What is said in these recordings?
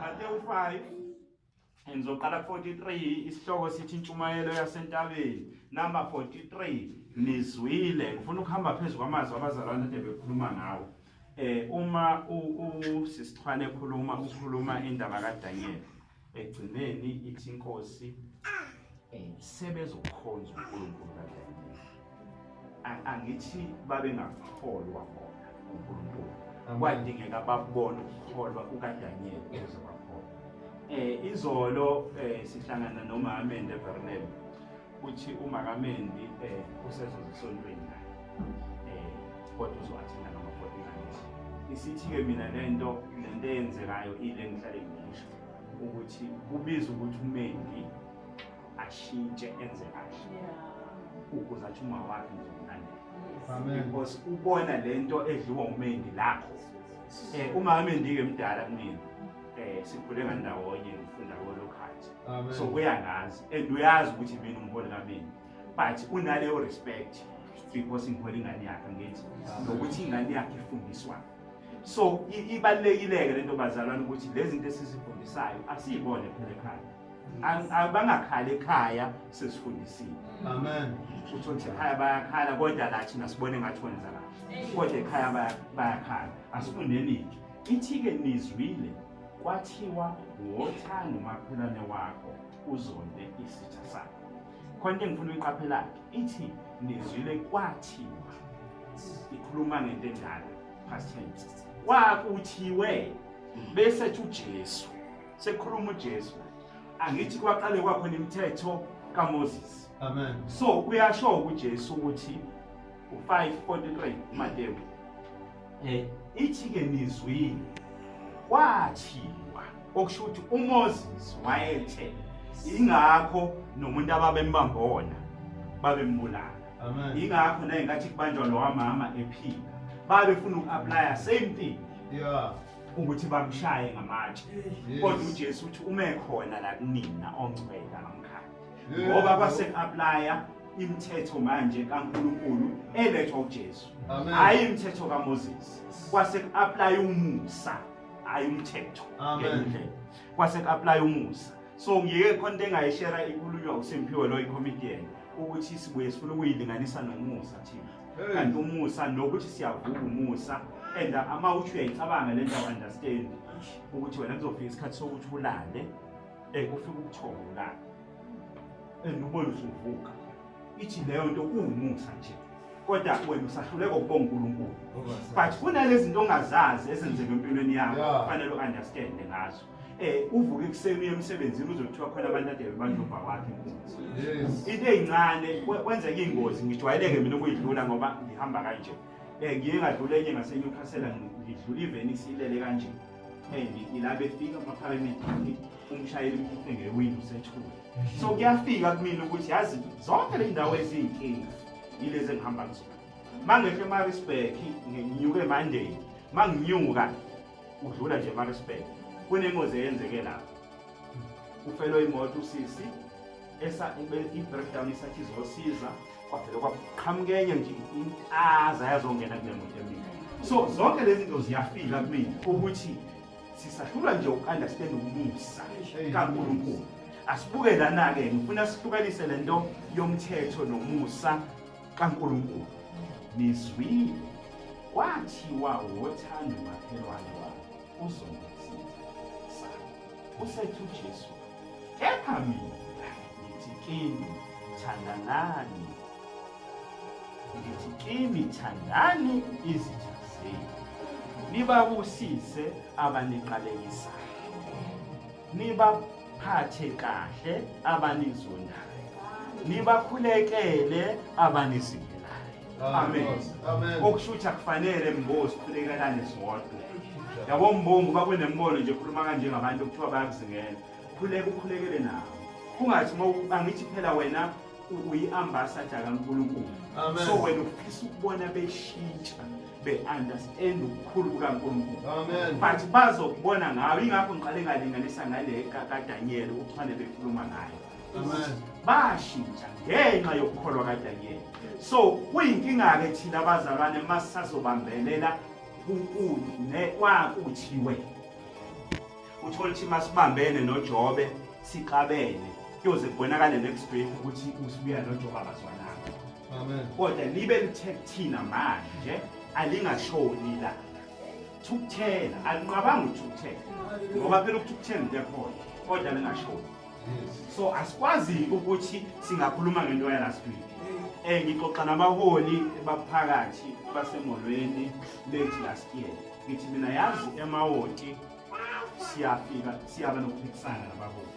Matewu 5 Ngizoqala ku-43 isihloko sithi intshumayelo yasentabeni number 43 nizwile ngifuna ukuhamba phezu kwamazwi abazalwane ade bekhuluma ngawo eh uma usisithwane ekhuluma ukhuluma indaba kaDaniel egcineni ithi inkosi um sebezokhonza unkulunkulu kadlamini angithi babengakholwa bona unkulunkulu kwadingeka babone ukukholwa kukadanyeli ukuze bakholwa um eh, izolo um sihlangana nomamende evernel uthi umakamendi um eh, usezozisontweni naye um kodwa uzowathenda ngama-forty isithi-ke mina le nto le nto eyenzekayo ile ngihlale ngimusho ukuthi kubiza ukuthi umendi ashintshe enze kahle ukuze athi uma wakhe ngizomlandela because ubona le nto edliwa umendi lakho um uma amendi-ke mdala kunini um sikhule ngandawonye ngifunda kolokhathi so uyangazi and uyazi ukuthi mina umholi kamendi but unaleyo respect because ngihole ingane yakhe ngithi nokuthi ingane yakhe ifundiswayo so ibalekileke lento bazalwana ukuthi lezi zinto esizifundisayo asiyibone phela ekhaya bangakhali ekhaya sesifundisile amen utho nje ekhaya bayakhala kodwa la thina sibone ngathi kwenza kahle kodwa ekhaya bayakhala asifundeni ithike nizwile kwathiwa wothanda umakhelwane wakho uzonde isitha sakho khona into engifuna uyiqaphelake ithi nizwile kwathiwa ikhuluma ngento enjalo past tense kwakuthiwe bese tsho uJesu sekhuluma uJesu angithi kwaqale kwakhona imithetho kaMoses amen so kuyasho uJesu ukuthi 5:43 Matewu eh ithi ke nizwini kwathiwa okusho ukuthi uMoses wayethe ingakho nomuntu ababembamba wona babembulala amen ingakho naye ngathi kubanjwa lo wamama ephila babefuna uku-aplya same thing yeah ukuthi bamshaye ngamatshe kodwa uJesu uthi uma ekhona la kunina ongcwele ngoba kwase applya imithetho manje kaNkuluNkulu elethwa uJesu hayi imithetho kaMoses kwase applya umusa hayi umthetho ngendlela kwase applya umusa so ngiyeke khona into engayishera ikhulunywa uSimphiwe lo i-comedian ukuthi sibuye sifuna ukuyilinganisa nomusa thina kanti umusa nokuthi siyavuka umusa and ama uthi uyayicabanga le nto understand ukuthi wena kuzofika isikhathi sokuthi ulale Eh kufika ubuthongo la. Enubona eh, usuvuka. Ithi leyo nto uwumusa nje. Kodwa wena usahluleka ukubonga uNkulunkulu. But kunalezi zinto ongazazi ezenzeka empilweni yakho kufanele uunderstand ngazo. Eh uvuka ekuseni emsebenzini uzothiwa khona abantu ade bebandlova wakhe inkunzi. Yes. Into ezincane kwenza ingozi ngijwayeleke mina ukuyidlula ngoba ngihamba kanje. Eh ngiye ngadlula enye ngaseNewcastle ngidlula iVenice ilele kanje. ila befika amapharamediki umshayeli mkhiphe ngewindi usethule so kuyafika kumina ukuthi yazi zonke le ndawo eziyinkinga yilezi engihamba kuzona uma ngehla emarisburg nginyuke emonday uma nginyuka udlula nje emarisburg kunengozi eyenzeke lapho ufelwe imoto usisi esa i-breakdown isathi izosiza kwavele kwaqhamuka enye nje intaza yazongena kule muntu emina so zonke lezi zinto ziyafika kumina ukuthi sisahlulwa nje uku-understand ukumusa kankulunkulu asibuke lana-ke ngifuna sihlukanise le nto yomthetho nomusa kankulunkulu nizwile kwathiwa wothanda umakhelwane wakhe uzongisitha sa usethu jesu Kepha mina ngithi kini thandanani, ngithi kini thandani izitha zenu, nibabusise abaniqalekisayo, nibaphathe kahle abanizondayo, nibakhulekele abanizingelayo. Amen. Amen. Okushuthi akufanele mbozi siphelekelane sodwa. Yabo mbongo bakunembono nje khuluma kanje ngabantu kuthiwa bayakuzingela. Khuleka ukhulekele nawo. Kungathi uma angithi phela wena uyi-ambassador kaNkulunkulu. Amen. So wena ufisa ukubona beshintsha be-understand ubukhulu bukaNkulunkulu. Amen. But bazokubona ngawe ingakho ngiqale ngalinganisa ngale kaDaniel uthwane bekhuluma ngayo. bashintsha ngenxa yokukholwa kaDaniyeli so kuyinkinga-ke thina abazalwane uma sisazobambelela kunkulu nekwakuthiwe uthole ukuthi uma sibambene nojobe sixabene kuyoze kubonakale next week ukuthi usibuya nojobe abazwananga kodwa libe lithe kuthina manje alingashoni la thukuthela alinqabanga uthukuthela ngoba phela ukuthukuthela into ekhona kodwa lingashoni so asikwazi ukuthi singakhuluma ngento ya last week um ngixoxa nabaholi baphakathi basemholweni late last year ngithi mina yazi emawoti siyafika siyaba nokuphikisana nabaholi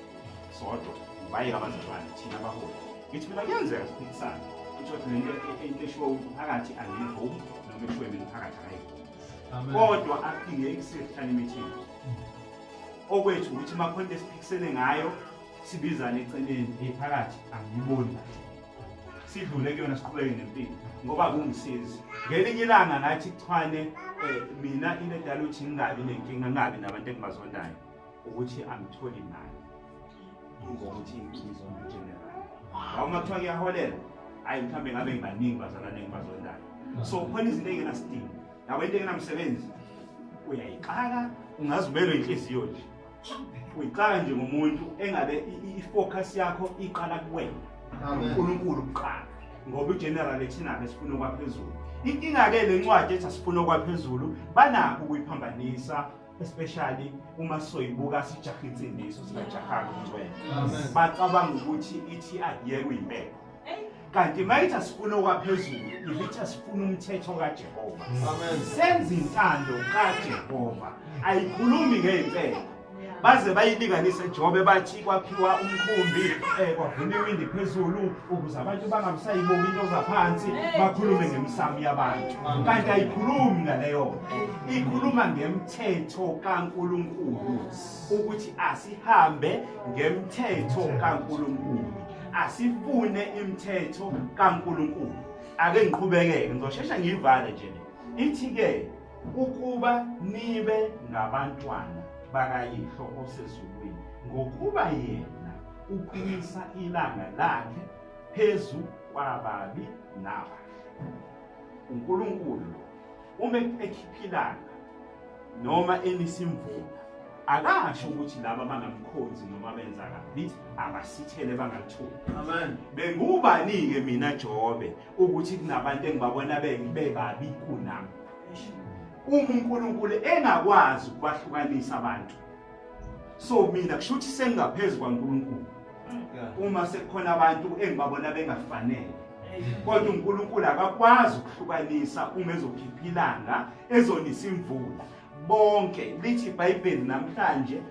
sodwa bayeka abazalwane thina abaholi ngithi mina kuyenzeka siphikisana kuthiwathi lento into eshiwo umphakathi angiyivumi noma eshiwo mina umphakathi akayivumi kodwa aphinde ekusehlanimithingi okwethu ukuthi makhona esiphikisene ngayo sibizane eceleni ephakathi angiyiboni manje sidlule kuyona siqhubeke nempilo ngoba kungisizi ngelinye ilanga ngathi kuchwane um mina into edala ukuthi ngingabi nenkinga ngingabi nabantu engibazondayo ukuthi angitholi mali ngokuthi ngizona general ngawuma kuthiwa kuyaholela hhayi mhlawumbe ngabe ngibaningi bazalwane engibazondayo so khona izinto eyingenasidingo yabo into engenamsebenzi uyayixaka ungazibelwe inhliziyo nje uyixaka nje ngomuntu engabe i-focus yakho iqala kuwena unkulunkulu kuqala ngoba igeneral ethinabe sifuna okwaphezulu inkinga-ke le ncwadi ethi asifuna okwaphezulu banakho ukuyiphambanisa especially uma soyibuka sijaha insindiso singajahanga umncwele bacabanga ukuthi ithi akuyeke uyimpela kanti mayithi asifuna okwaphezulu ivithi asifuna umthetho kajehova senza intando kajehova ayikhulumi ngey'mpela baze bayilinganise jobe bathi kwakhiwa umkhumbi eh, kwavuma iwindi phezulu ukuze abantu bangabusayibuki into zaphansi bakhulume ngemisamo yabantu kanti ayikhulumi ngaleyo ikhuluma ngemthetho kaNkuluNkulu ukuthi asihambe ngemthetho kaNkuluNkulu asifune imithetho kaNkuluNkulu ake ngiqhubekeke ngizosheshe ngiyivale nje ithi ke ukuba nibe ngabantwana bakayihlo osezulwini ngokuba yena uqinisa ilanga lakhe phezu kwababi nabahle unkulunkulu uma ekhiphilanga noma enisimvula akasho ukuthi laba bangamkhonzi noma benza kabi abasithele bangathuli amen bengubani-ke mina jobe ukuthi kunabantu engibabona bebabi kunami uma unkulunkulu engakwazi ukubahlukanisa abantu so mina kusho ukuthi sengingaphezu kwankulunkulu uma sekukhona abantu engibabona bengafanele kodwa unkulunkulu akakwazi ukuhlukanisa uma ezokhipha ilanga ezonisa imvula bonke lithi ibhayibheli namhlanje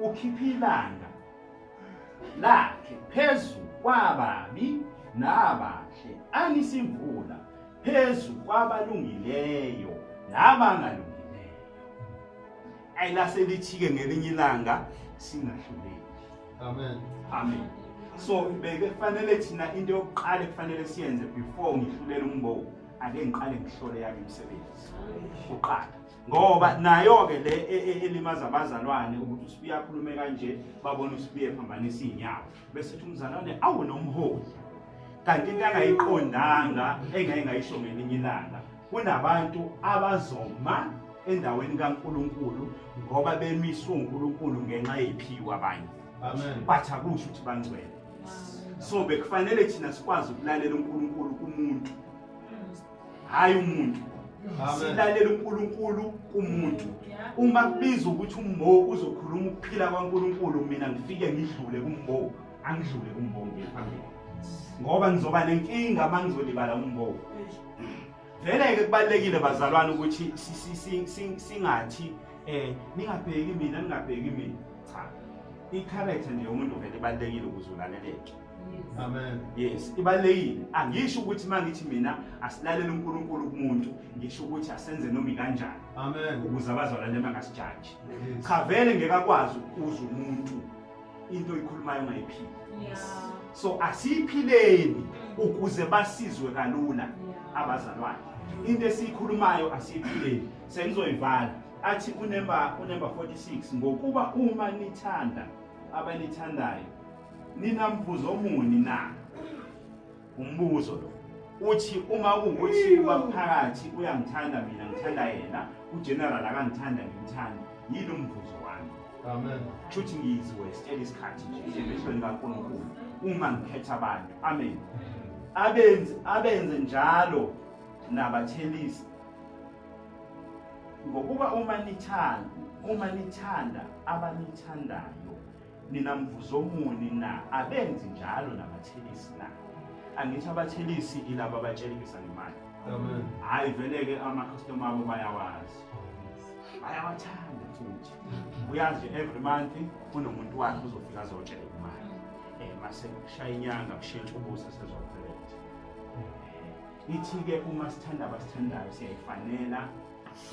ukhipha ilanga lakhe phezu kwababi nabahle anisimvula phezu kwabalungileyo nabangalungileyo ayilaselithike ngelinye ilanga singahluleki amen amen so bekufanele thina into yokuqala ekufanele siyenze before ngihlulela umbowu ake ngiqale ngihlole yami imisebenzi uqala ngoba nayo-ke le e, e, elimaza abazalwane ukuthi usibiya akhulume kanje babone usibiya ephambanisa iy'nyawo bese uthi umzalwane awu nomholi kanti into angayiqondanga engeke ngayisho ngelinye ilanga kunabantu abazoma endaweni kaNkuluNkulu ngoba bemiswe uNkuluNkulu ngenxa yephiwa abanye amen bathi akusho ukuthi bangcwele so bekufanele thina sikwazi ukulalela uNkuluNkulu kumuntu hhayi umuntu silalela uNkulunkulu kumuntu uma kubiza ukuthi umbo uzokhuluma ukuphila kwaNkulunkulu mina ngifike ngidlule kumbo angidlule kumbo ngiye phambili ngoba ngizoba nenkinga uma ngizolibala umbo vele-ke kubalulekile bazalwane ukuthi singathi um ningabheki mina ningabheki mina cha i-character nje yomuntu vele ibalulekile ukuze ulaleleke Amen. Yes, ibalekile. Angisho ukuthi mangithi mina asilalele uNkulunkulu kumuntu, ngisho ukuthi asenze nomi kanjani. Amen. Ukuze abazalwane bangasijaji. Cha vele ngeke akwazi ukuza umuntu into oyikhulumayo ungayiphili. Yes. So asiyiphileni mm. ukuze basizwe kalula abazalwane. Into esiyikhulumayo asiyiphileni. Sengizoyivala. Athi unemba unemba 46 ngokuba uma nithanda abanithandayo Ninambuzo omuni na? Umbuzo lo uthi uma kuwukuthi ubaphakathi uyangithanda mina ngithanda yena ugeneral akangithanda ngimthanda yini umvuzo wami amen shuthi ngizwe sitshela isikhathi nje emhlweni kaNkulunkulu uma ngikhetha abantu amen abenze abenze njalo nabathelisi ngokuba uma nithanda uma nithanda abanithandayo nina mvuzomuni na abenzi njalo nabathelisi na angithi abathelisi ilaba abatshelekisa ngemali hhayi vele-ke amakhastoma abo bayawazi bayawathanda futhi uyazi every month kunomuntu wakhe uzofika azotshela imali um eh, mase kushaya inyanga kushintsha ubusa sezopheletha eh, ithi-ke uma sithanda abasithandayo siyayifanela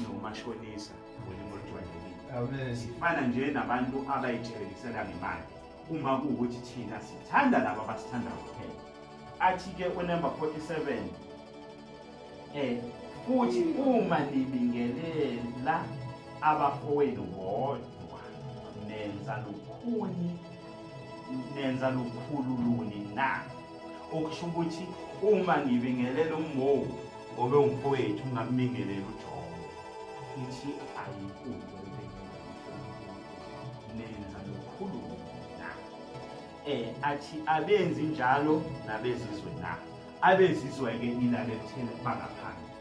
nomashonisa sifana nje nabantu abayithelekisela ngemali uma kuwukuthi thina sithanda laba abasithanda kuphela athi-ke unumber 47 um eh, futhi uma nibingelela abafowenu bodwa nenza lukhuni nenza lukhulu luni na okusho ukuthi uma ngibingelela ummowu Ngobe umfowethu ungammingelela uJobe. Ithi ayikude nenza lokhulumo na. Eh athi abenzi njalo nabezizwe na. Abezizwe ke ilale kuthena bangaphandle.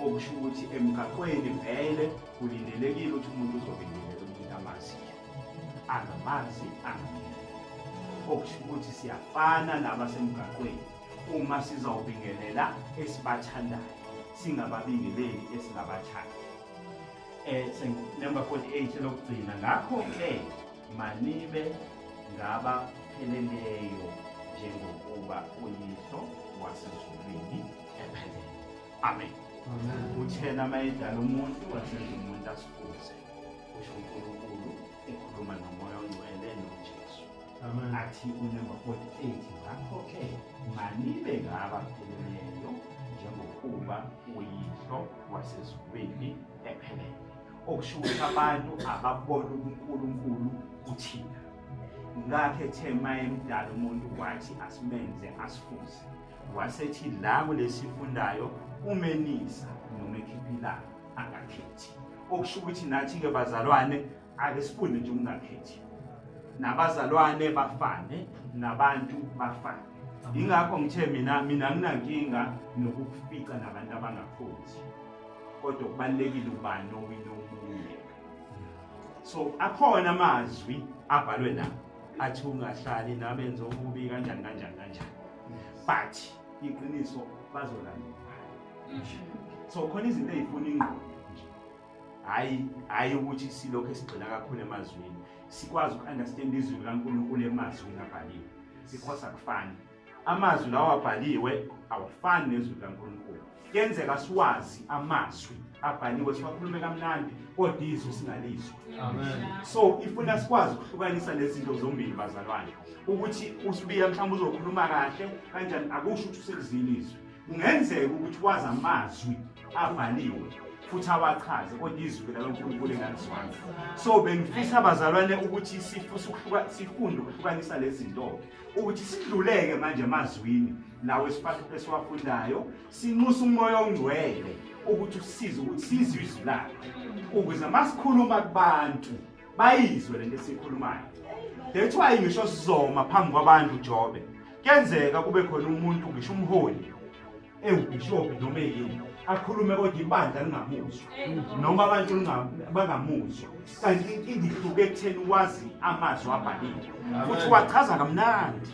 Okusho ukuthi emgaqweni vele kulindelekile ukuthi umuntu uzobingelela umuntu amaziyo. Angamazi angamile. Okusho ukuthi siyafana nabasemgaqweni. uma sizawubingelela esibathandayo singababingeleli esingabathandi it's eh, number 48 elokugcina ngakho-ke manibe ngabapheleleyo njengokuba uyiso wasezulwini ephelele amen uthena mayedala umuntu wasezulwini umuntu asifuze kusho unkulunkulu ekhuluma nomoya ongcwele nojesu athi unumber 48 ngakho-ke manibe ngaba pheleneyo njengokuba uyihlo wasezulwini ephelele okusho ukuthi abantu ababona unkulunkulu kuthina ngakhe ethe mayemdala umuntu wathi asimenze asifuze wasethi la kulesifundayo umenisa noma ekhipha ilanga angakhethi okusho ukuthi nathi-ke bazalwane ake sifunde nje ukungakhethi nabazalwane bafane nabantu bafane yingakho ngithe mina mina nginankinga nokukufica nabantu abangakhothi kodwa kubalulekile ubani owina omunye so akhona amazwi abhalwe la athi ungahlali nabenza okubi kanjani kanjani kanjani but iqiniso bazolandela so khona izinto ey'funa ingqondo nje hhayi hhayi ukuthi silokhu esigxila kakhulu emazwini sikwazi uku-understand izwi likankulunkulu emazwini abhaliwe because akufani amazwi lawo abhaliwe awafani nezwi likankulunkulu kuyenzeka siwazi amazwi abhaliwe siwakhulume kamnandi kodwa izwi singalizwa so ifuna sikwazi ukuhlukanisa lezi zinto zombili bazalwane ukuthi usibiya mhlawumbe uzokhuluma kahle kanjani akusho ukuthi usekuzile izwi Kungenzeka ukuthi wazi amazwi abhaliwe futhi awachaze kodwa izwi likaNkulunkulu engalizwanga so bengifisa abazalwane ukuthi sifunde ukuhlukanisa lezi zinto ukuthi sidluleke manje emazwini lawo esiwafundayo sinxusa umoya ongcwele ukuthi usize ukuthi sizwe izwi lakhe ukuze masikhuluma kubantu bayizwe lento esikhulumayo that's why ngisho sizoma phambi kwabantu ujobe kuyenzeka kube khona umuntu ngisho umholi ewubhishobhi noma eyini akhulume kodwa ibandla lingamuzwa noma abantu bangamuzwa kanti inkinga ihluke ekutheni wazi amazwi abhaliwe futhi wachaza kamnandi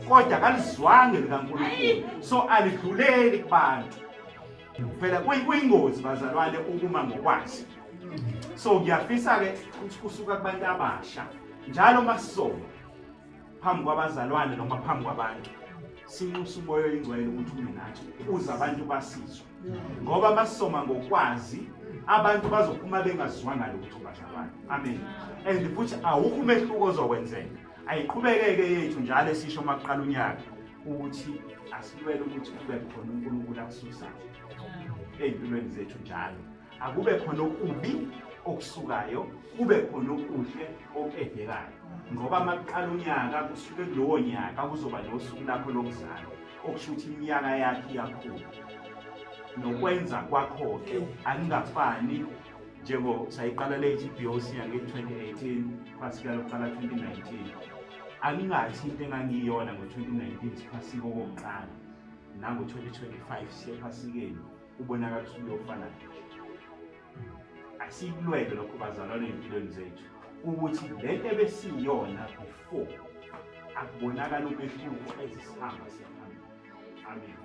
kodwa kalizwange likankulunkulu so alidluleli kubantu phela kuyingozi bazalwane ukuma ngokwazi so ngiyafisa-ke ukuthi kusuka kubantu abasha njalo uma sisoma phambi kwabazalwane noma phambi kwabantu sinxusa umoya oyingcwele ukuthi ume nathi ukuze abantu basizwe ngoba uma sisoma ngokwazi abantu bazophuma bengaziwanga lutho bazalwane amen and futhi awukho umehluko ozokwenzeka ayiqhubekeke yethu njalo esisho uma kuqala unyaka ukuthi asilwele ukuthi kube khona uNkulunkulu akususayo ezimpilweni zethu njalo akube khona okubi okusukayo kube khona okuhle okudekayo ngoba makuqala unyaka kusuke kulowo nyaka kuzoba nosuku lakho lokuzalo okusho ukuthi iminyaka yakhe iyakhula nokwenza kwakho-ke akungafani njengo sayiqala le GBOC yange 2018 phasika lokuqala 2019 angingathi into engangiyona ngo-2019 siphasike okokuqala nango-2025 siyephasikeni kubonakala ukuthi kuyofana nje asikulwele lokho bazalwane empilweni zethu ukuthi le nto ebesiyona before akubonakala umehluko ezisihamba siyaphambili amen